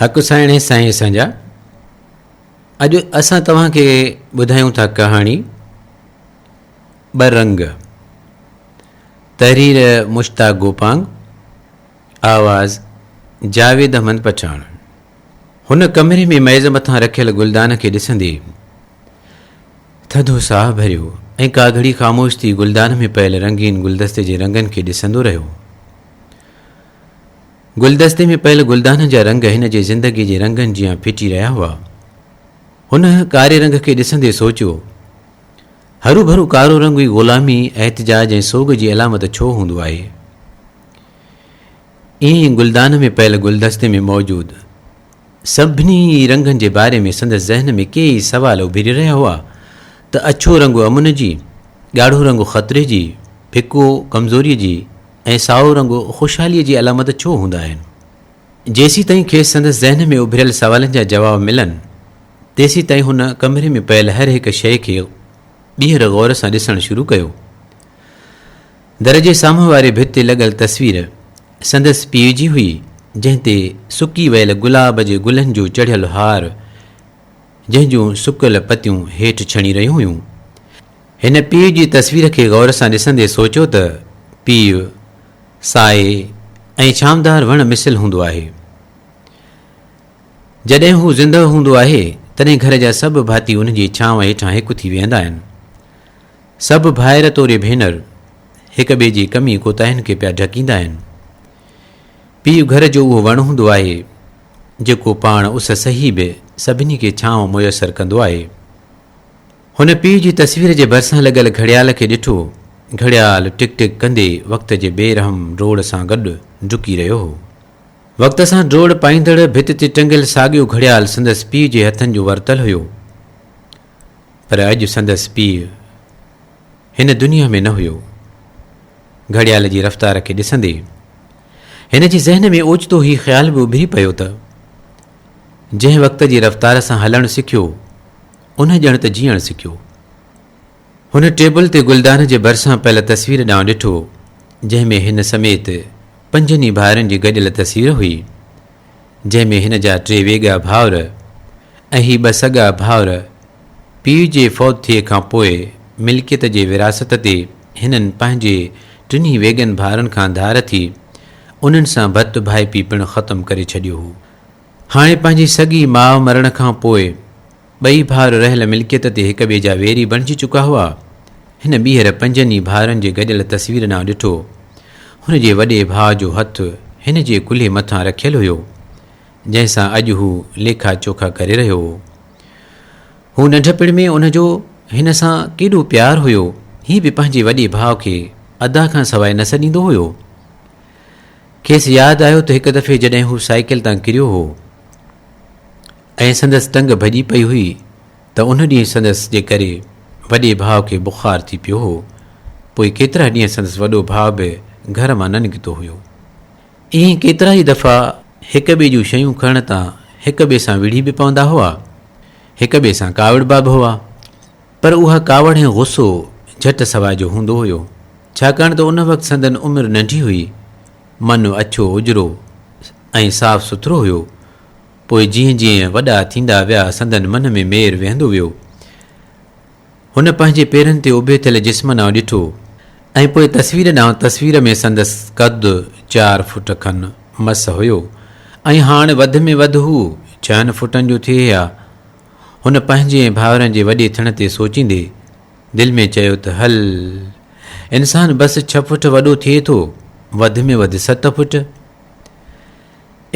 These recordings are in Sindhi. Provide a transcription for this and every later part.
حق سائڻي سائين اسان جا اڄ اسان توهان کي ٻڌايون ٿا ڪهاڻي ٻه رنگ تحرير مشتاق گوپانگ آواز جاويد احمد پٺاڻ هن ڪمري ۾ ميز مٿان رکيل گلدان کي ڏسندي ٿڌو ساهه ڀريو ۽ ڪا گهڙي خاموش ٿي گلدان ۾ پيل رنگين گلدستي جي رنگن کي ڏسندو رهيو گلدستي ۾ پيل گلدانن جا رنگ هن جي زندگيء جي رنگن جيان ڦٽي رهيا هئا. هن ڪاري رنگ کي ڏسندي سوچيو، هروڀرو ڪارو رنگ ئي غلامي، احتجاج ۽ سوڳ جي علامت ڇو هوندو آهي؟ ائين ئي گلدان ۾ پيل گلدستي ۾ موجود سڀني ئي رنگن جي باري ۾ سندس ذهن ۾ ڪي ئي سوال اڀري رهيا هئا ته اڇو رنگ امن جي، ڳاڙهو رنگ خطري جي، ڦڪو ڪمزوريء جي، ۽ سائو رنگ خوشحاليء جي علامت ڇو هوندا آهن؟ جيسيتائين کيس سندس ذهن ۾ اڀريل سوالن جا جواب ملن، تيسيتائين هن ڪمري ۾ پيل هر هڪ شيء کي ٻيهر غور سان ڏسڻ شروع ڪيو. در جي سامهون واري ڀت تي لڳل تصوير سندس پيء جي هئي، جنهن تي سڪي ويل گلاب جي گلن جو چڙهيل هار، جنهن جون سڪيل پتيون هيٺ ڇڻي رهيون هيون. هن پيء جي تصوير کي غور سان ڏسندي سوچيو ته پيء، سائي ۽ ڇانودار وڻ مثل هوندو آهي. جڏهن هو زندهه هوندو آهي، تڏهن گهر جا سڀ ڀاتي ان جي ڇانو هيٺان هڪ ٿي ويهندا آهن. سڀ ڀائر توري ڀينر، هڪ ٻئي جي ڪمي ڪوتاهين کي پيا ڍڪيندا آهن. پيء گهر جو اهو وڻ هوندو آهي، جيڪو پاڻ اس سهي به سڀني کي ڇانو ميسر ڪندو آهي. هن پيء جي تصوير جي ڀرسان لڳل گهڙيال کي ڏٺو. گهڙيال ٽڪ ٽڪ ڪندي وقت جي بي رحم ڊوڙ سان گڏ ڊڪي رهيو هو. وقت سان ڊوڙ پائيندڙ ڀت تي ٽنگيل ساڳيو گهڙيال سندس پيء جي هٿن جو ورتل هيو. پر اڄ سندس پيء هن دنيا ۾ نه هيو. گهڙيال جي رفتار کي ڏسندي هن جي ذهن ۾ اوچتو هي خيال به اڀري پيو ته جنهن وقت جي رفتار سان هلڻ سکيو، انهن ڄڻ ته جيئڻ سکيو. هن ٽيبل تي گلدان جي ڀرسان پيل تصوير ڏانهن ڏٺو، جنهن ۾ هن سميت پنجن ئي ڀائرن جي گڏيل تصوير هئي، جنهن ۾ هن جا ٽي ويڳا ڀائر ۽ هي ٻه سڳا ڀائر پيء جي فوت ٿئي کان پوء ملڪيت جي وراثت تي هنن پنهنجي ٽنهي ويڳن ڀائرن کان ڌار ٿي انهن سان ڀت ڀائپي پڻ ختم ڪري ڇڏيو هو. هاڻي پنهنجي سڳي ماء مرڻ کان پوء ٻئي ڀائر رهيل ملڪيت تي هڪ ٻئي جا ويري بڻجي چڪا هئا. هن ٻيهر پنجن ئي ڀائرن جي گڏيل تصوير ڏانهن ڏٺو. هن جي وڏي ڀاء جو هٿ هن جي ڪلهي مٿان رکيل هيو، جنهن سان اڄ هو ليکا چوکا ڪري رهيو هو. هو ننڍپڻ ۾ ان جو هن سان ڪيڏو پيار هيو. هي به پنهنجي وڏي ڀاء کي ادا کان سواء نه سڏيندو هيو. کيس ياد آيو ته هڪ دفعي جڏهن هو سائيڪل تان ڪريو هو ۽ سندس ٽنگ ڀڄي پئي هئي ته ان ڏينهن سندس جي ڪري وڏي ڀاء کي بخار ٿي پيو هو پوء ڪيترا ڏينهن سندس وڏو ڀاء به گهر مان نه نڪتو هيو. ائين ڪيترا ئي دفعا هڪ ٻئي جون شيون کڻڻ تان هڪ ٻئي سان وڙهي به پوندا هئا، هڪ ٻئي سان ڪاوڙبا به هئا. پر اها ڪاوڙ ۽ غصو جهٽ سواء جو هوندو هيو، ڇاڪاڻ ته ان وقت سندن عمر ننڍي هئي. من اڇو اجرو ۽ صاف سٿرو هيو. پوء جيئن جيئن وڏا ٿيندا ويا سندن من ۾ مير ويهندو ويو. هن پنهنجي پيرن تي اڀي ٿيل جسم ڏانهن ڏٺو ۽ پوء تصوير ڏانهن تصوير ۾ سندس قد چار فوٽ کن مس هيو ۽ هاڻ وڌ ۾ وڌ هو ڇهن فوٽن جو ٿئي ها. هن پنهنجي ۽ ڀائرن جي وڏي ٿڻ تي سوچيندي دل ۾ چيو ته هل! انسان بس ڇهه فوٽ وڏو ٿئي ٿو، وڌ ۾ وڌ ست فوٽ.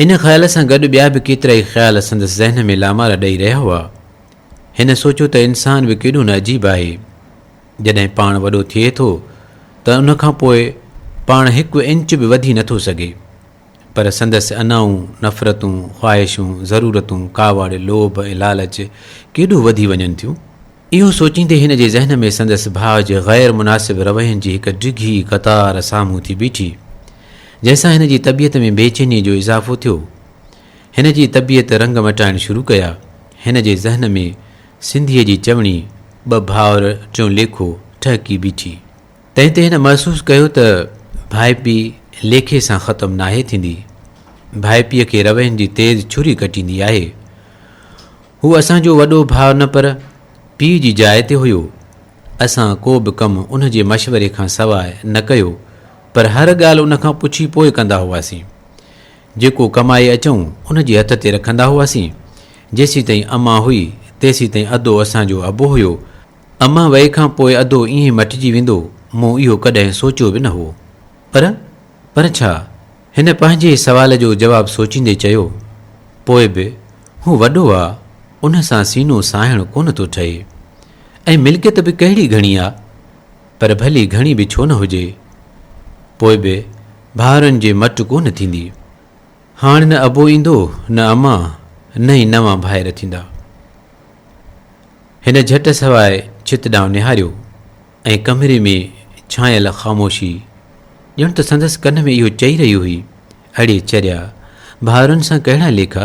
ان خيال سان گڏ ٻيا به ڪيترائي خيال سندس ذهن ۾ لامارا ڏئي رهيا هئا. هن سوچيو ته انسان به ڪيڏو نه عجيب آهي. جڏهن پاڻ وڏو ٿئي ٿو ته ان کان پوء پاڻ هڪ انچ به وڌي نٿو سگهي. پر سندس انائون، نفرتون، خواهشون، ضرورتون، ڪاوڙ، لوڀ ۽ لالچ ڪيڏو وڌي وڃن ٿيون. اهو سوچيندي هن جي ذهن ۾ سندس ڀاء جي غير مناسب روين جي هڪ ڊگهي قطار سامهون ٿي بيٺي، جنهن سان هن جي طبيعت ۾ بي چيني جو اضافو ٿيو. هن جي طبيعت رنگ مٽائڻ شروع ڪيا. هن جي ذهن ۾ سنڌيء جي چوڻي، ٻه ڀائر ٽيون ليکو، ٺهڪي بيٺي. تنهن تي هن محسوس ڪيو ته ڀائپي ليکي سان ختم ناهي ٿيندي. ڀائپيء کي روين جي تيز ڇري ڪٽيندي آهي. هو اسان جو وڏو ڀاء نه پر پيء جي جاء تي هيو. اسان ڪو به ڪم ان جي مشوري کان سواء نه ڪيو پر هر ڳالهه ان کان پڇي پوء ڪندا هئاسين. جيڪو ڪمائي اچون ان جي هٿ تي رکندا هئاسين. جيسيتائين امان هئي تيسيتائين ادو اسان جو ابو هيو. امان وئي کان پوء ادو ائين مٽجي ويندو، مون اهو ڪڏهن سوچيو به نه هئو. پر، پر ڇا؟ هن پنهنجي ئي سوال جو جواب سوچيندي چيو، پوء به هو وڏو آ، ان سان سينو ساهڻ ڪونه ٿو ٺهي. ۽ ملڪيت به ڪهڙي گهڻي آ؟ پر ڀلي گهڻي به ڇو نه هجي، پوء به ڀائرن جي مٽ ڪونه ٿيندي. هاڻ نه ابو ايندو نه اما نه ئي نوان ڀائر ٿيندا. هن جهٽ سواء ڇت ڏانهن نهاريو ۽ ڪمري ۾ ڇانيل خاموشي ڄڻ ته سندس ڪن ۾ اهو چئي رهي هئي، اڙي چريا ڀائرن سان ڪهڙا ليکا؟